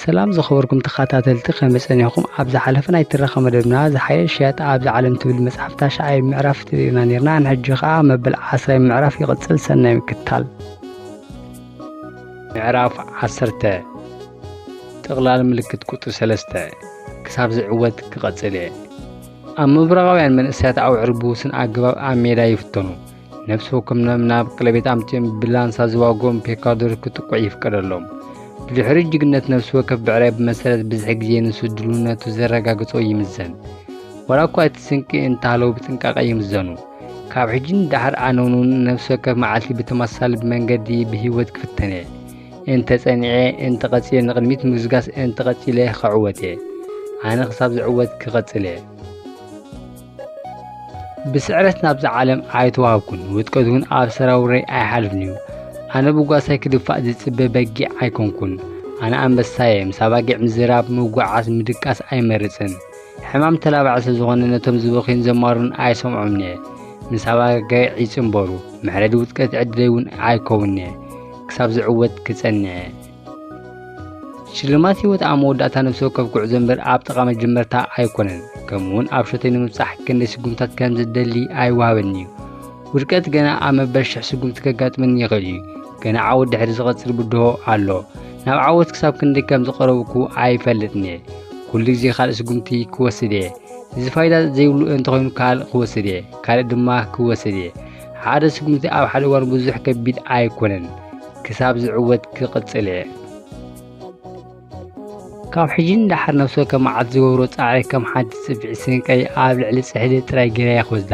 ሰላም ዝኸበርኩም ተኻታተልቲ ከመይ ጸኒሕኩም ኣብ ዝሓለፈ ናይ ትረኻ መደብና ዝሓየሽ ሸያጣ ኣብዚ ዓለም ትብል መጽሓፍ ታሽዓይ ምዕራፍ ትብኢና ነርና ንሕጂ ከኣ መበል ዓስራይ ምዕራፍ ይቕጽል ሰናይ ምክትታል ምዕራፍ ዓሰርተ ጥቕላል ምልክት ቁጥሪ ሰለስተ ክሳብ ዝዕወት ክቐጽል እየ ኣብ ምብራቓውያን መንእሰያት ኣውዕር ብውስን ኣገባብ ኣብ ሜዳ ይፍተኑ ነፍሲ ወከምኖም ናብ ቀለቤት ኣምፅኦም ብላንሳ ዝዋጎም ፔካዶር ክጥቁዕ ይፍቀደሎም ብድሕሪ ጅግነት ነፍሲ ወከፍ ብዕራይ ብመሰረት ብዝሒ ግዜ ንሱ ድልውነቱ ዘረጋግጾ ይምዘን ወላ እኳ እቲ ስንቂ እንተሃለዉ ብጥንቃቐ ይምዘኑ ካብ ሕጂ ንዳሕር ኣነውን እውን ነፍሲ ወከፍ መዓልቲ ብተመሳሳሊ ብመንገዲ ብህይወት ክፍተን እየ እንተጸኒዐ እንተቐጺለ ንቕድሚት ምግስጋስ እንተቐጺለ ክዕወት እየ ኣነ ክሳብ ዝዕወት ክቐጽል እየ ብስዕረት ናብዛ ዓለም ኣይተዋህብኩን ውድቀት እውን ኣብ ሰራውረይ ኣይሓልፍን እዩ ኣነ ብጓሳይ ክድፋእ ዝጽበ በጊዕ ኣይኮንኩን ኣነ ኣንበሳየ ምስ ኣባጊዕ ምዝራብ ምጓዓዝ ምድቃስ ኣይመርጽን ሕማም ተላባዕ ስለ ዝኾነ ነቶም ዝበኽዩን ዘማሩን ኣይሰምዖምን እየ ምስ ኣባጊዕ ይጽምበሩ መሕረዲ ውድቀት ዕድለይ እውን ኣይከውንን እየ ክሳብ ዝዕወት ክጸንዕ እየ ሽልማት ህይወት ኣብ መወዳእታ ነፍሲ ወከፍ ጉዕዞ እምበር ኣብ ጥቓ መጀመርታ ኣይኮነን። ከምኡውን ኣብ ሸቶይ ንምብጻሕ ክንደይ ስጉምታት ከም ዝደሊ ኣይወሃበኒ እዩ። ውድቀት ገና ኣብ መበል ሽሕ ስጉምቲ ከጋጥመኒ ይኽእል እዩ። ገና ዓወት ድሕሪ ዝቐጽል ብድሆ ኣሎ። ናብ ዓወት ክሳብ ክንደይ ከም ዝቐረብኩ ኣይፈልጥን እየ። ኩሉ ግዜ ካልእ ስጉምቲ ክወስድ እየ። እዚ ፋይዳ ዘይብሉ እንተኾይኑ ካልእ ክወስድ እየ፣ ካልእ ድማ ክወስድ እየ። ሓደ ስጉምቲ ኣብ ሓደ እዋን ብዙሕ ከቢድ ኣይኮነን። ክሳብ ዝዕወት ክቕጽል እየ። ካብ ሕጂ ንደሓር ነብሲ ወከፍ መዓልቲ ዝገብሮ ጻዕሪ ከም ሓንቲ ጽፍዒት ስንቀይ ኣብ ልዕሊ ጽሕዲ ጥራይ ገይረ እየ ክወስዳ።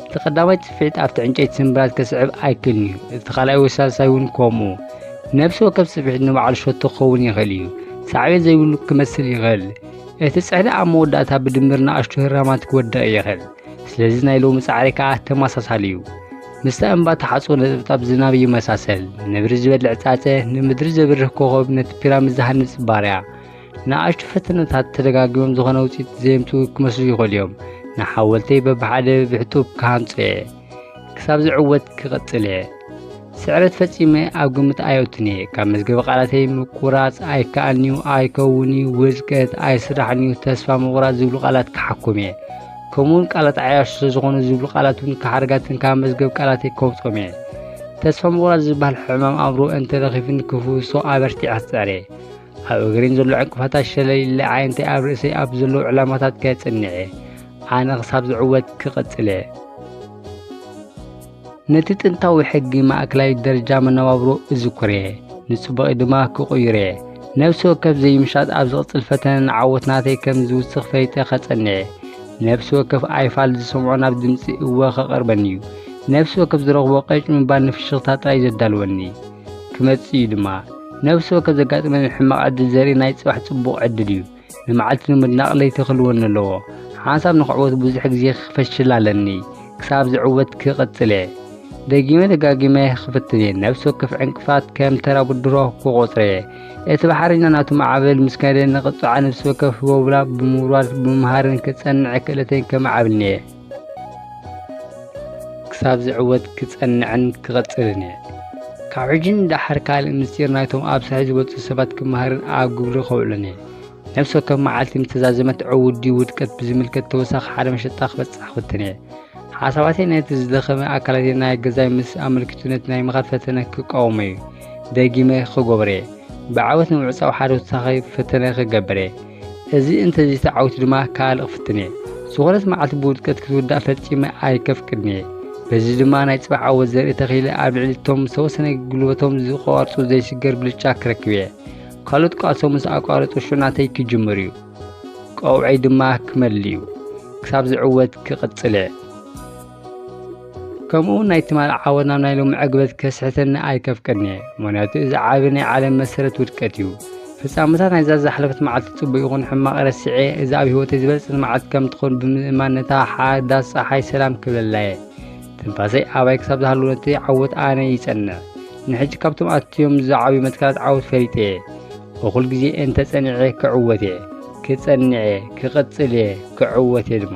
እቲ ቀዳማይ ጽፍዒት ኣብቲ ዕንጨይቲ ስምብራት ከስዕብ ኣይክእልን እዩ፣ እቲ ካልኣይ ወይ ሳልሳይ እውን ከምኡ። ነብሲ ወከፍ ጽፍዒት ንባዕሉ ሸቶ ክኸውን ይኽእል እዩ፣ ሳዕቤን ዘይብሉ ክመስል ይኽእል። እቲ ጽሕዲ ኣብ መወዳእታ ብድምር ንኣሽቱ ህራማት ክወድቕ ይኽእል። ስለዚ ናይ ሎሚ ጻዕሪ ከኣ ተመሳሳሊ እዩ። ምስታ እምባ ተሓጽቦ ነጥብጣብ ዝናብ ይመሳሰል። ነብሪ ዝበልዕ ጻጸ፣ ንምድሪ ዘብርህ ኮኸብ፣ ነቲ ፒራሚድ ዝሃንጽ ባርያ። ንኣሽቱ ፈተነታት ተደጋጊሞም ዝኾነ ውጽኢት ዘየምጽኡ ክመስሉ ይኽእሉ እዮም። ንሓወልተይ በብሓደ ብሕጡብ ክሃንጾ እየ። ክሳብ ዝዕወት ክቕጽል እየ። ስዕረት ፈጺመ ኣብ ግምት ኣየውትን እየ ካብ መዝገበ ቃላተይ ምቁራጽ ኣይከኣልንዩ ኣይከውንዩ ውዝቀት ኣይስራሕንዩ ተስፋ ምቑራጽ ዝብሉ ቃላት ክሓኩም እየ ከምኡውን ቃላት ዓያሹ ስለዝኾኑ ዝብሉ ቃላት እውን ካሓርጋትን ካብ መዝገብ ቃላተይ ከውጾም እየ ተስፋ ምቑራጽ ዝበሃል ሕማም ኣእምሮ እንተረኺብኒ ክፍውሶ ኣበርቲዐ ክጽዕር እየ ኣብ እግሪን ዘሎ ዕንቅፋታት ሸለል ኢለ ዓይነተይ ኣብ ርእሰይ ኣብ ዘለዉ ዕላማታት ከጽንዕ እየ ኣነ ክሳብ ዝዕወት ክቕጽል እየ ነቲ ጥንታዊ ሕጊ ማእከላይ ደረጃ መነባብሮ እዝኩር እየ፣ ንጽቡቐይ ድማ ክቕይሮ እየ። ነብሲ ወከፍ ዘይምሻጥ ኣብ ዝቕጽል ፈተነ ንዓወት ናተይ ከም ዝውስኽ ፈሊጠ ከጸንዕ እየ። ነብሲ ወከፍ ኣይፋል ዝሰምዖ ናብ ድምጺ እወ ከቐርበኒ እዩ። ነብሲ ወከፍ ዝረኽቦ ቀጭ ምባል ንፍሽኽታ ጥራይ ዘዳልወኒ ክመጽእ እዩ ድማ። ነብሲ ወከፍ ዘጋጥመኒ ሕማቕ ዕድል ዘርኢ ናይ ጽባሕ ጽቡቕ ዕድል እዩ። ንመዓልቲ ንምድናቕ ለይቲ ክልወኒ ኣለዎ ሓንሳብ ንኽዕወት ብዙሕ ግዜ ክፈሽል ኣለኒ ክሳብ ዝዕወት ክቕጽል እየ ደጊመ ደጋጊመ ክፍትን እየ ነብሲ ወከፍ ዕንቅፋት ከም ተራ ብድሮ ክቖጽረ እየ እቲ ባሕሪና ናቱ ማዕበል ምስ ከደ ንቕጽዓ ነብሲ ወከፍ ህቦብላ ብምውራድ ብምምሃርን ክጸንዕ ክእለተይ ከመዓብልኒ እየ ክሳብ ዝዕወት ክጸንዕን ክቐጽልን እየ ካብ ሕጂ ንደሓር ካልእ ምስጢር ናይቶም ኣብ ሳሒ ዝበጽሑ ሰባት ክመሃርን ኣብ ግብሪ ከውዕሎን እየ ነፍሲ ወከፍ መዓልቲ ምተዛዘመት ዕውት ድዩ ውድቀት ብዝምልከት ተወሳኺ ሓደ መሸጣ ክበጽሕ ክፍትን እየ ሓሳባተይ ነቲ ዝደኸመ ኣካላቴ ናይ ገዛይ ምስ ኣመልኪቱ ነቲ ናይ ምኻድ ፈተነ ክቃወሞ እዩ ደጊመ ክገብረ እየ ብዓወት ንምዕጻው ሓደ ተወሳኺ ፈተነ ክገብር እየ እዚ እንተዘይሰዓዊቱ ድማ ካልእ ክፍትን እየ። ዝኾነት መዓልቲ ብውድቀት ክትውዳእ ፈጺመ ኣይከፍቅድን እየ። በዚ ድማ ናይ ጽባሕ ዓወት ዘርኢ ተኺለ ኣብ ልዕሊ እቶም ዝተወሰነ ጉልበቶም ዝቋርጹ ዘይስገር ብልጫ ክረክብ እየ። ካልኦት ቃልሶም ምስ ኣቋረጹ ሽዑ ናተይ ክጅምር እዩ። ቀውዐይ ድማ ክመልእ እዩ። ክሳብ ዝዕወት ክቕጽል እየ። ከምኡ ናይ ትማል ዓወት ናብ ናይ ሎሚ ዕግበት ከስሕተኒ ኣይከፍቅድን እየ ምክንያቱ እዚ ዓቢ ናይ ዓለም መሰረት ውድቀት እዩ ፍጻመታት ናይዛ ዝሓለፈት መዓልቲ ጽቡቅ ይኹን ሕማቕ ረሲዐ እዚ ኣብ ህይወተይ ዝበልጽት መዓልቲ ከም ትኾን ብምእማን ነታ ሓዳስ ፀሓይ ሰላም ክብለላ እየ ትንፋሰይ ኣባይ ክሳብ ዝሃሉ ነቲ ዓወት ኣነ ይጸንዕ ንሕጂ ካብቶም ኣትዮም ዝዓብዩ መትከላት ዓወት ፈሊጠ እየ እኹል ግዜ እንተ ጸኒዐ ክዕወት እየ ክጸንዕ እየ ክቕጽል እየ ክዕወት እየ ድማ